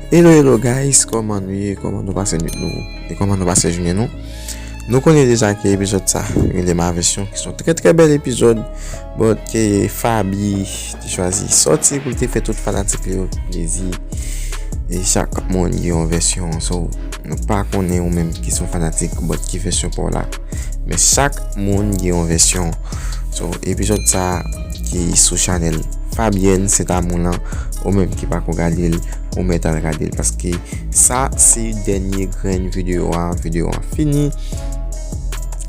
Hello hello guys koman nou ye koman nou pase nwit nou e koman nou pase jounen nou nou konnen deja ke epizod sa rele ma vesyon ki son tre tre bel epizod bot ke fabi te chwazi soti pou te fe tout fanatik li yo plezi e chak moun gen yon vesyon sou Nou pa konnen ou menm ki son fanatik but ki vèsyon paw la men chak moun gen yon vèsyon so epizòd sa ki sou chanèl Fabienne Saint Amour lan ou menm ki pako gadel ou mèt al gadel paske sa se dènye grenn videyo a videyo a fini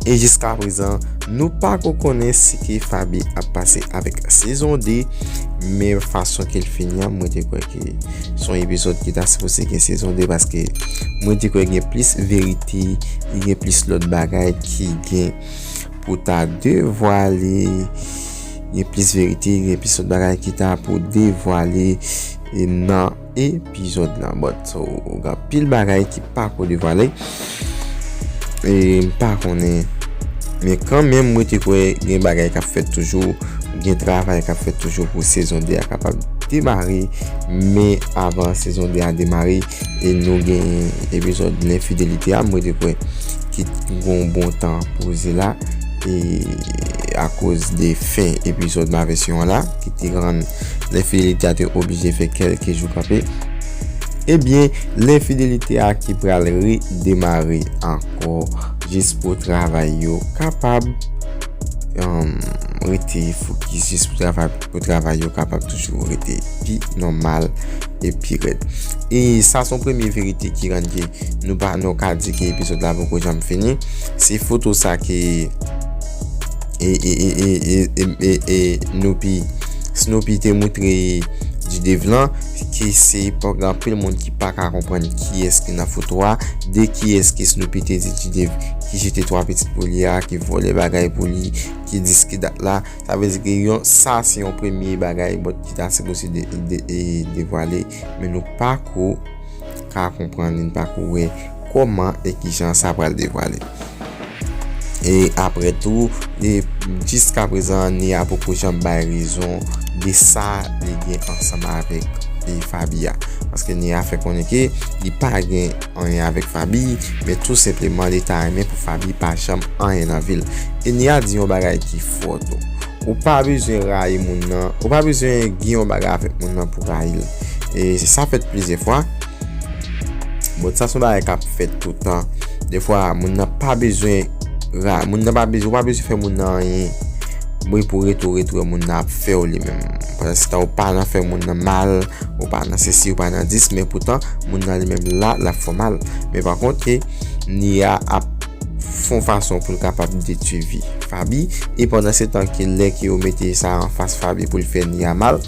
e jiska prezan nou pako konnen si ke Faby ap pase avèk sezon 2 men fason kel fini an mwen te kwè. Son epizòd ki ta sipoze gen sezon 2 paske mwen te kwè gen plis verite, gen plis lòt bagay ki gen pou ta devwale, gen plis verite, gen plis lòt bagay ki ta pou devwale nan epizòd lan. Bon, so gen pil bagay ki pa pou devwale. E m pa konnen. Men kan menm mwen te kwè gen bagay k ap fèt toujou. Gen travay k ap fèt toujou pou sezon 2 a kapab demare. Men avan sezon 2 a demare e nou gen epizòd lenfidelite a mwen te kwè ki gon bon tan poze la. E akoz de fen epizòd mave syon an la ki te rann lenfidelite a te oblije fè kèlke jou kanpe. Ebyen lenfidelite a ki pral re demare ankò jis pou travay yo kapab rete fokis jis pou travay yo kapab toujou rete pi nòmal e pi rèd. E sa son premye verite ki rann ke nou pa nou ka di ke epizòd la poko janm fini. Se foto sa ke e Snoopy te moutre G-Dave lan KC paw gen anpil moun ki paka konprann kiyès ki nan foto a, de kiyès ke Snoopy te di G-Dave ki jete 3 pitit pou li a, ki vòlè bagay pou li, ki diske dat la, sa vle di ke yon sa se yon premye bagay bon ki ta sipoze devwale, men nou pako ka konprann li, nou pako wè kòman e kijan sa pral devwale. E apre tou, e jiska prezan Anie a poko janm bay rezon de sa li gen ansanm avèk e Faby a. Paske Anie a fè konnen ke li pa gen anyen avèk Faby, men tou senpleman li ta renmen pou Faby pa janm anyen nan vil. E Nia di yon bagay ki fò tou, ou pa bezwen rayi moun nan, ou pa bezwen gen yon bagay avèk moun nan pou rayil. E sa fèt plizyè fwa. Bon sa son bagay kap fèt toutan. Defwa moun nan pa bezwen ra, moun nan pa bezwen, ou pa bezwen fè moun nan anyen. Bon e pou retou retou e moun nan ap fè ou li menm. Pandan se tan ou pa nan fè moun nan mal, ou pa nan se si, ou pa nan dis, men poutan moun nan li menm la, la fè ou mal. Men pa kont e, ni a ap fon fason pou l kapab detui vi Fabi. E pandan se tan ki lè ki ou mete sa an fas Fabi pou l fè ni a mal.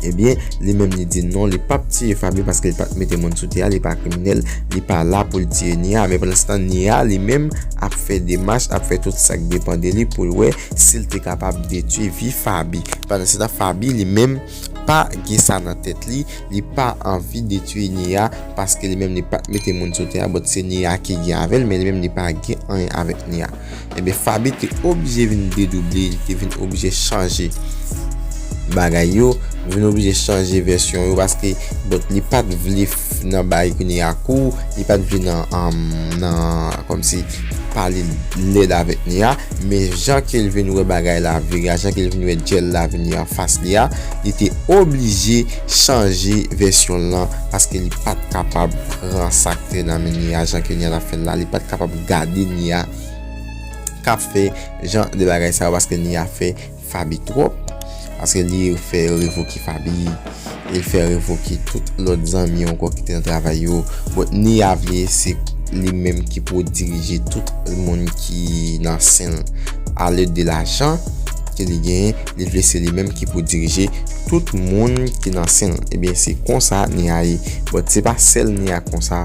Ebyen li menm li di non li pap tiye Fabie paske li pat mete moun sou tè a li pa kriminèl li pa la poul tiye Nia men pandanstan Nia li menm ap fè demach ap fè tout sak depan de li poul wè sil te kapab detwi vi Fabie pandansetan Fabie li menm pa gen sa nan tèt li li pa anvi detwi Nia paske li menm li pat mete moun sou tè a bot se Nia ki gen avèl men li menm li pa gen anyen avèk Nia. Ebyen Faby te oblije vin dedouble, li te vin oblije chanje bagay yo, li vin oblije chanje vèsyon yo paske bon li pat vle nan bay kounye a kou, li pat vle nan kòmsi pale lèd avèk ni a, men jan ke l vin wè bagay la vire a, jan ke l vin wè djèl la vini anfas li a, li te oblije chanje vèsyon l lan paske li pat kapab pran sa k te nan men ni a jan ke ni a t ap fè l la, li pat kapab. gade Nia kap fè jan de bagay sa yo paske Nia fè Faby twòp paske li fè revoke Faby li fè revoke tout lòt zanmi ankò ki te nan travay yo bon Nia vle se li menm ki pou dirije tout moun ki nan sen l a lèd de lajan ke li genyen li vle se li menm ki pou dirije tout moun ki nan sen l ebyen se konsa Nia ye bon se pa sèl Nia konsa.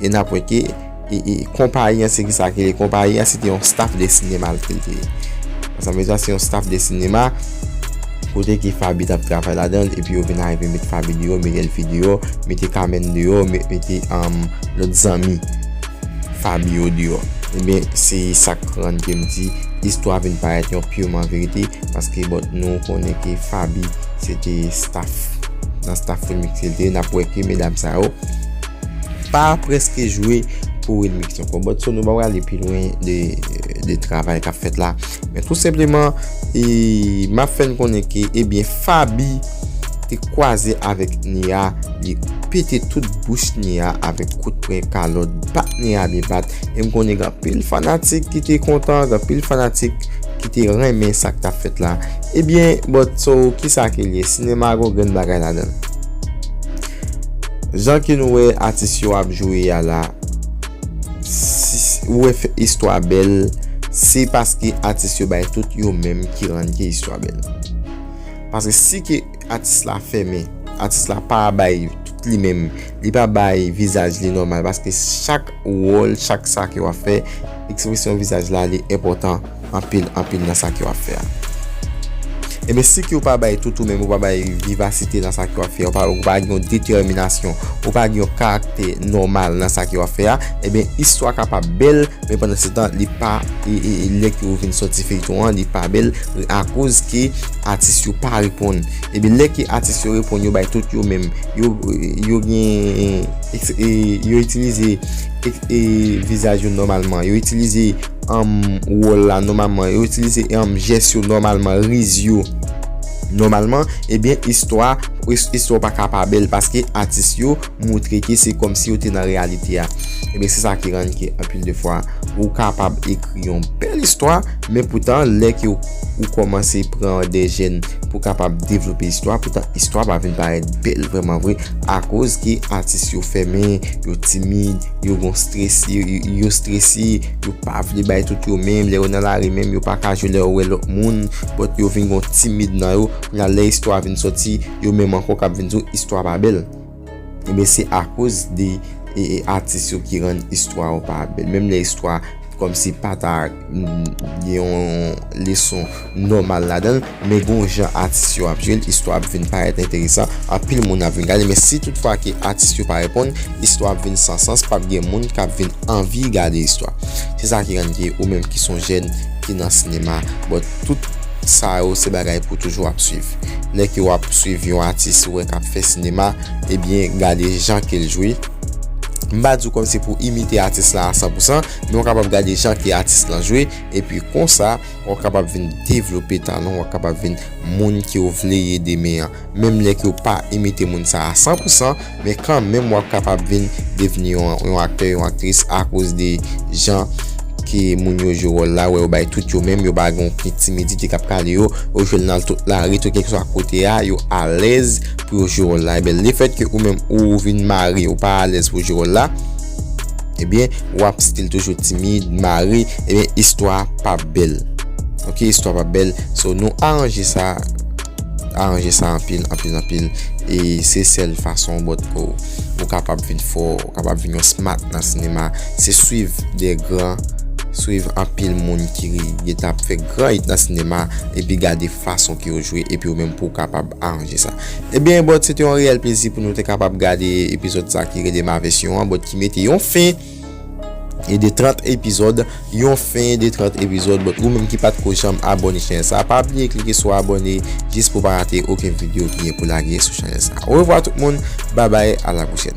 e nap wè ke e konpayi an se ki sa ke li konpayi an se te yon staff de sinema li te ye sa vle di a se yon staff de sinema kote ki fabi tap travay la dan e pi yo vin arive met fabi di yo miguel fi di yo mete kamen di yo mete am lot zanmi fabi yo di yo e ben se sak rann kem di istwa vin parèt yon piman verite paske bon nou konnen ke fabi se te staff nan staff filmik se te nap wè ke medam sa yo Pa preske jwe pou remix ankò. Bon so nou pa prale pi lwen de travay kap fèt la. Men tou senpleman e map fèn konnen ke ebyen Faby te kwaze avèk Nia li pete tout bouch Nia avèk kout pwen kalòt bat Nia byen bat. E m konnen gen anpil fanatik ki te kontan, gen anpil fanatik ki te renmen sak tap fèt la. Ebyen bon so kisa ke l ye? Sinema gon grenn bagay ladan l. Jan ke nou wè atis yo ap jwe a la, ou wè fè istwa bèl, se paske atis yo bay tout yo menm ki rann ke istwa bèl. Paske si ke atis la fèmen, atis la pa bay tout li menm, li pa bay vizaj li nòmal, paske chak wòl, chak sa ke wap fè, ekspresyon vizaj la li enpòtan. anpil anpil nan sa ke wap fè a. Ebyen si ke ou pa bay tout ou menm, ou pa bay vivasite nan sa ke wap fè, ou pa gen yon detèminasyon, ou pa gen yon karaktè nòmal nan sa ke wap fè a, ebyen istwa kapab bèl, men pandan se tan li pa, lè ke ou vin sòti feyton an, li pa bèl, akoz ke atis yo pa reponn. Ebyen lè ke atis yo reponn, yo bay tout yo menm, yo gen, yo itilize vizaj yo nòmalman, yo itilize. anm wòl la nòmalman, yo itilize anm jès yo nòmalman, riz yo nòmalman, ebyen istwa istwa pa ka pa bèl paske atis yo moutre ke se kòm si yo te nan reyalite a. Ebyen se sa ki rann ke anpil de fwa ou kapab ekri yon bèl istwa men poutan lè ke ou kòmanse pran de jèn pou kapab devlope istwa poutan istwa pa vin parèt bèl vrèman vre akoz ke atis yo fèmen, yo timid. Yo gon stress, yo strese, yo pa vle bay tout yo menm, lè yo nan lari menm yo pa ka jwe lè yo wè lòt moun, but yo vin gon timid nan yo, kounye a lè istwa vin sòti, yo menm ankò kap vin di w istwa pa bèl. Ebyen se akoz de atis yo ki rann istwa yo pa bèl, menm lè istwa kòmsi pa ta. gen yon leson nòmal ladan l, men gon jan atis yo ap jwe l, istwa ap vin parèt enteresan, anpil moun ap vin gade l, men si tout fwa ke atis yo pa reponn, istwa ap vin san sans, pap gen moun kap vin anvi gade istwa. Se sa ki rann ke ou menm ki son jèn ki nan sinema, bon tout sa yo se bagay pou toujou ap swiv. Lè ke wap swiv yon atis ou wè kap fè sinema, ebyen gade jan ke l jwe, m pa di w kòm se pou imite atis la a san pou san, Men ou kapab gade jan ke atis lan jwe, epi konsa ou kapab vin devlope talan, ou kapab vin moun ke ou vle ye demen an. Menm lè ke ou pa imite moun sa a san pou san, men kan menm ou ap kapab vin devni yon aktè, yon aktris akoz de jan ke moun yo jwe wòl la, wè yo bay tout yo menm, yo pa gen okenn timidite kap kale yo, yo jwe l nan tout lari, tout kèlkeswa kote a, yo alèz pou yo jwe wòl la. Enben, lefèt ke ou menm ou vin mare, ou pa alèz pou jwe wòl la, Ebyen wap stil toujou timid, mare, ebyen istwa pap bèl. Ok istwa pap bèl, so nou aranje sa, aranje sa anpil, anpil, anpil, e se sèl fason bòt pouw ou kapab vin fò, ou kapab vin yon smat nan sinema, se swiv de gran, swiv anpil moun ki gentan ap fè gran it nan sinema, epi gade fason ke yo jwe, epi ou menm pouw kapab aranje sa. Ebyen bòt se te yon reyèl plezi pou nou te kapab gade epizòd sa ki rele ma vèsyon an bòt ki mete yon fen de 30 epizòd yon fen de 30 epizòd bòt ou menm ki pat ko janm abòne chanèl sa pa bliye klike sou abòne jis pou pa rate oken video ki gen pou lage sou chanèl sa orevwa tout moun babay a la pwochèn.